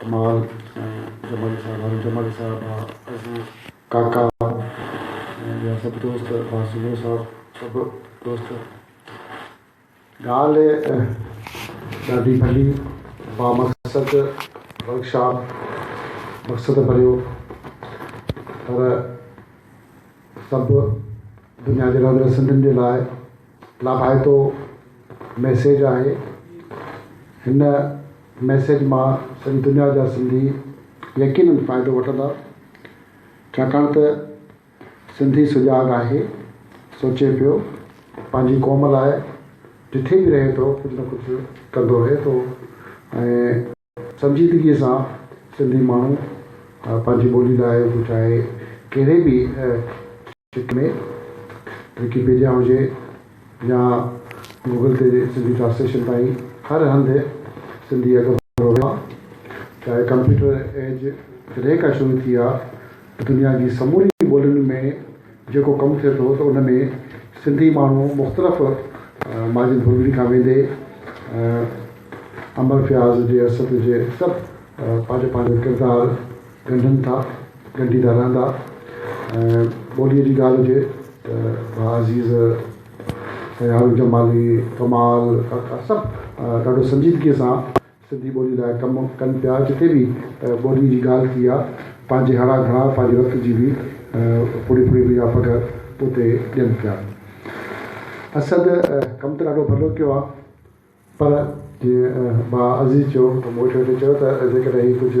ڪمال ۽ جمالي صاحب هارون جمالي صاحب عزيز ڪاڪا ۽ ٻيا سڀ دوست بار سومرو صاحب سڀ دوست ڳالهه ڏاڍي ڀلي با مقصد ورڪ شاپ مقصد ڀريو پر سڀ دنيا جي رهندڙ سنڌين جي لاء لاڀائتو ميسيج آهي هن ميسيج مان سڄي دنيا جا سنڌي يقينن فائدو وٺندا ڇاڪاڻ ته سنڌي سجاڳ آهي سوچي پيو پنهنجي قوم لاء جٿي به رهي ٿو ڪجهه نه ڪجهه ڪندو رهي ٿو ۽ سنجيدگيء سان سنڌي ماڻهو پنهنجي ٻولي لاء هو چاهي ڪهڙي به شڪل ۾ وڪيپيڊيا هجي يا گوگل تي سنڌي ٽرانسليشن تائين هر هنڌ سنڌي اڳڀرو رهيو آهي. چاهي ڪمپيوٽر ايج جڏهن کان شروع ٿي آهي ته دنيا جي سمورين ٻولين ۾ جيڪو ڪم ٿئي ٿو ته ان ۾ سنڌي ماڻهو مختلف ماجهين ڌوٻين کان ويندي امر فياض جي اسد جي سڀ پنهنجو پنهنجو ڪردار ڳنڍن ٿا ڳنڍيندا رهندا ۽ ٻوليء جي ڳالهه هجي ته ڀاء عزيز طيارو جمالي ڪمال ڪاڪا سڀ ڏاڍو سنجيدگيء سان سنڌي ٻولي لاء ڪم ڪن پيا جتي به ٻولي جي ڳالهه ٿي آ پنهنجي هڙا گهڙا پنهنجي رت جي به ڦڙي ڦڙي به يا پگهه اتي ڏين پيا اسد ڪم ته ڏاڍو ڀلو ڪيو آ پر جيئن با عزيز چيو ته مون ويٺي ويٺي چيو ته جيڪڏهن هي ڪجهه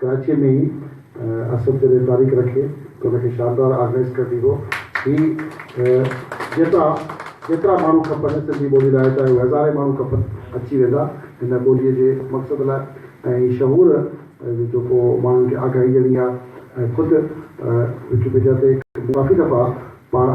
ڪراچيء ۾ ئي اسد جڏهن تاريخ رکي ته ان کي شاندار آرگنائيز ڪرڻي هو. هي جيترا جيترا ماڻهو کپن سنڌي ٻولي لاء چاهي هو هزارين ماڻهو کپن اچي ويندا هن ٻوليء جي مقصد لاء ۽ هي شعور جو ڪو ماڻهن کي آگاهي ڏيڻي آ ۽ خود وڪيپيڊيا تي ڪافي دفعا پاڻ